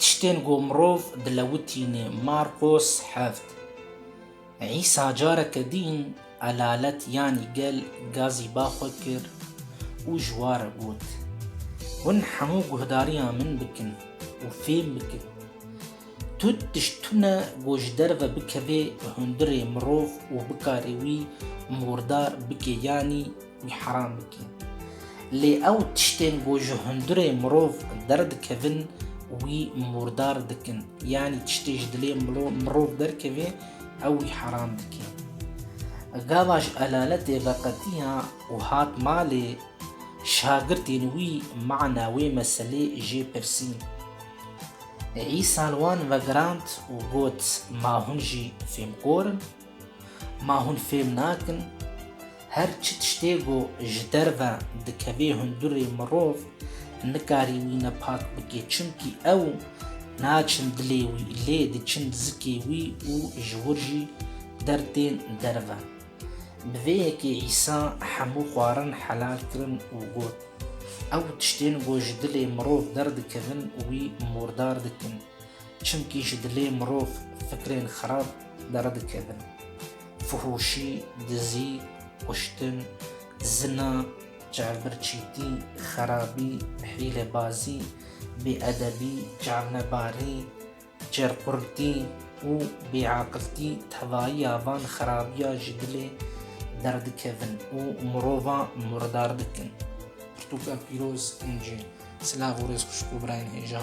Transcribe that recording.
Tiştên ku mirov dilewitîne Marqos heft. Îsa careke dîn elalet yanî gel gazî ba xwe kir û ji wa re got, Hûn hemû guhdariya min bikin û fêm bikin. Tu tişt tune ku ji derve bikevê hundirê mirov û bikarê wî murdar bike yanî Wî heram bike. Lê ew tiştên ku ji hundirê mirov derdikevin wî murdar dikin. Yanî tiştê ji dilê mirov derkeve ew wî heram dike. Gava ji elaletê veqetiya û hat malê şagirtên wî mana wê meselê jê pirsîn. Îsa li wan vegirand û got, Ma hûn jî fêmkor in? Ma hûn fêm nakin her çi tiştê ku ji derve dikevê hundurê mirov nikarî wî ne pak bike çimkî ew naçin dilê wî lê diçin zikê wî û ji wir jî dertên derve. Bi vê yekê Îsa hemû xwarin helal kirin û got, Ew tiştên ku ji dilê mirov derdikevin wî murdar dikin. çimkî ji dilê mirov fikrên xerab deredikevin. Fihûşî, dizî, kuştin, zina, çavbirçîtî, xerabî, hîlebazî, bêedebî, çavnebarî, çêrqurtî û bêaqiltî tevayiya van xerabiya ji dilê derdikevin û mirovan murdar dikin. Pirtûka pîroz, Încîl. Silav û rêz xwişk û birayên hêja.